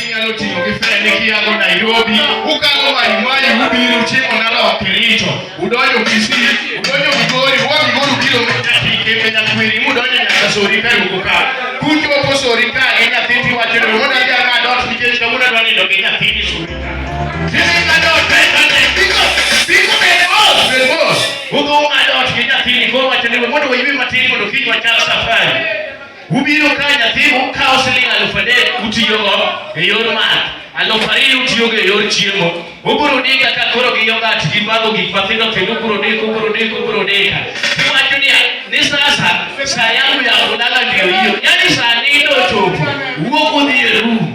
inyalo tiyo gi fene kiago Nairobi, ukalo Maimai, ubiro uchimo nalo Kericho, udonjo Kisii, udonjo Migori, uwa Migori ukiro kembe Nyakwiri, mudonjo nyaka Sori ka ruko ka. Kuchopo Sori ka e nyathini wacho ni wuod adhi ang'ad ot nikech kawuono adwa nindo gi nyathini Sori ka. Sisi ka dot, pesa ne, biko, biko ne, oh, Ugo ng'ado ot gi nyathini koro wacho ni mondo waywe matin mondo kiny wachak safari. Ubiro ka nyathi ukawo siling' alufu adek utiyogo e yor math, alufu ariyo utiyogo e yor chiemo. Ubiro dika ka koro gi yogat gi bago gik mathindo kendo ubiro dika, ubiro dika, ubiro dika. Iwacho ni ni sasa saa yangu ya kulala ndio hiyo, yaani saa nne ndio chopo, wuok udhi e room